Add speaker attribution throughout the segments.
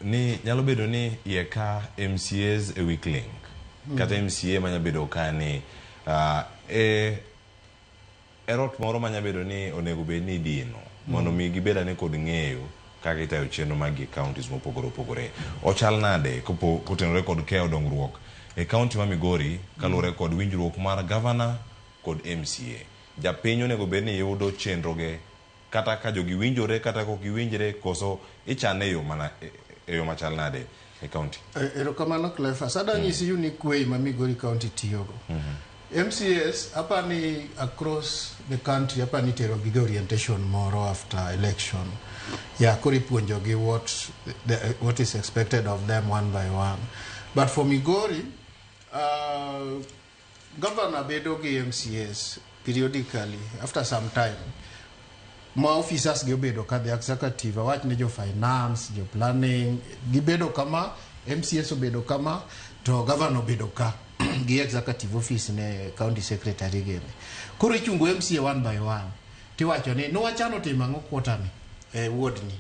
Speaker 1: ni nyalo bedo ni iye ka MCAs e weak link mm. kata MCA manya bedo ka ni uh, e erot moro manya bedo ni onego bed ni dino mm. mondo mi gibeda ni kod ng'eyo kaka itayo chenro mag counties mopogore opogore ochal nade kopo kotenore kod keyo dongruok e county ma Migori kaluwore kod winjruok mar governor kod MCA japiny onego bed ni yudo chenroge kata ka jogi winjore kata ka ok giwinjre koso ichane e yo mana e, e yo machal nade e kaunti? E, erokamano Cleophas.
Speaker 2: Adang' mm. isiu ni kwei ma Migori County tiyogo. Mm -hmm. MCS apa ni across the country apa ni tero gi orientation moro after election. Ya koro ipuonjogi what the, what is expected of them one by one. But for Migori uh, Governor bedo gi MCAs periodically after some time ma officers gi obedo ka the executive awach ni jo finance jo planning gibedo kama MCS obedo kama to governor obedo ka gi executive office ne county secretary gi koro ichungo MCA one by one tiwacho ni niwachano timo ang'o quarter ni eh, ward ni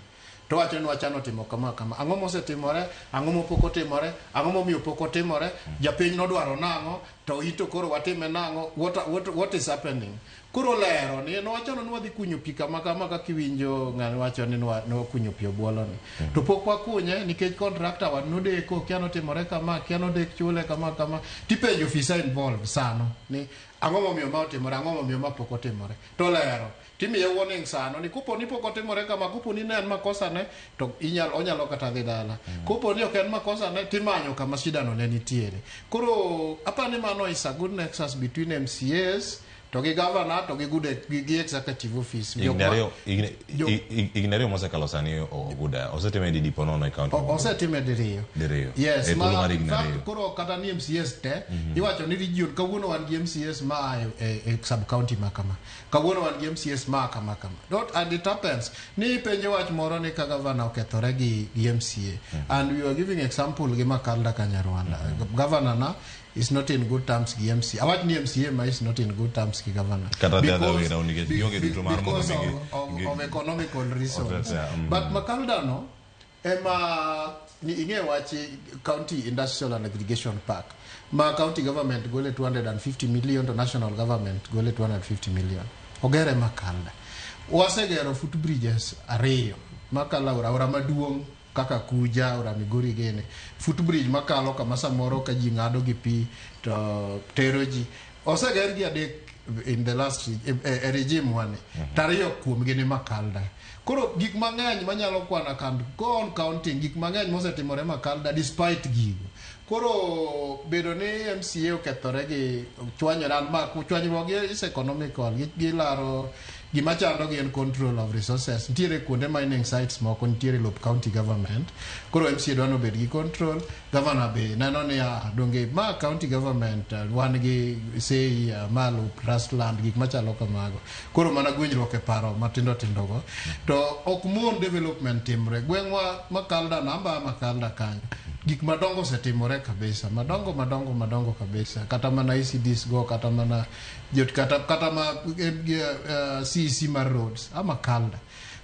Speaker 2: To owachonwa cha notimo kama kama. Ang'o mosetimore? Ang'o mopok otimore? Ang'o momiyo pok otimore? Japiny nodwaro nang'o? To ito koro watime nang'o? What, what, what is happening? Koro lero ni nowachono ni wadhi kunyo pi kama kama kaka iwinjo ng'ani wacho ni nokunyo pi obwoloni. Mm. To pok wakunye nikech kontrakta wa nodeko, kia notimore kama, kia nodek chule kama kama. Tipenjo ofisa involved sano ni ang'o momiyo ma otimore, ang'o momiyo ma pok otimore. To lero. Timiye warning sano ni koponi pok otimore kama, koponi ne en makosa ne to inyal, onyalo kata dhi dala. Mm. Koponi ok en makosa ne timanyo kama shida no ne nitiere. Koro apani mano is a good nexus between MCAs to gi governor to gi good gi, gi executive office ignario ignario
Speaker 1: mose kalo sani oguda osetime di dipo nono e county osetime diriyo
Speaker 2: diriyo yes e ma mari ignario koro kata ni MCS te mm -hmm. iwacho ni region kawuono wan gi MCS ma e, e, e sub county makama Kawuono wan gi MCAs ma kama kama. Don't, and it happens. Ni penje wach moro ni ka gavana okethore gi, gi MCA. And we were giving example gi Makalda Kanyarwanda. Governor na is not in good terms gi MCA. Awach ni MCA ma is not in good terms gi governor. Kata the other way round, nikech be- jogi be- duto mar mondo because mi gi- of, of, gi- of economical reasons. Otetsa, mm. But Makalda no, ema ni ing'e wach county industrial and aggregation park ma county government gole 250 million to national government gole 250 million ogere makalda wasegero footbridges ariyo makalo aora aora maduong' kaka kuja aora migori gene footbridge makalo kama samoro ka ji ng'ado gi pi to tero ji oseger gi adek in the last e, e, e regime wani mhm. tariyo kuom gini makalda koro gik mang'eny manyalo kwana kan gon counting gik mang'eny mosetimore makalda despite gigo koro bedo ni mca okethore gi chwanyore an ma chwanyruok is economical gilaro gima chando gi en control of resources nitiere kuonde mining sites moko nitiere lop county government koro mca dwa nobed gi control Gavana be neno niya, donge ma county government uh, wan gi sei uh, malo trust land gik machalo kamago. Koro mana gwenyruok e paro matindo tindogo. To ok mon development timre. Gweng'wa Makalda namba Makalda kanyo. Gik madongo osetimore kabisa, madongo madongo madongo kabisa. Kata mana ECDs go, kata mana jot kata kata ma eh, eh, CEC mar roads, a Makalda.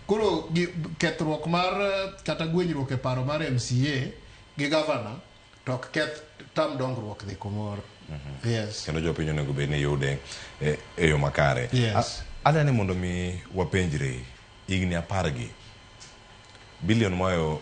Speaker 2: Koro gi- kethruok mar eh, kata gwenyruok e paro mar MCA gi gavana to ok keth tam dongruok dhi kumoro mm-hmm. yes kendo jopiny onego bed
Speaker 1: ni yude eh, e yo makare yes ada ni
Speaker 2: mondo mi
Speaker 1: wapenjre higni apar gi bilion mayo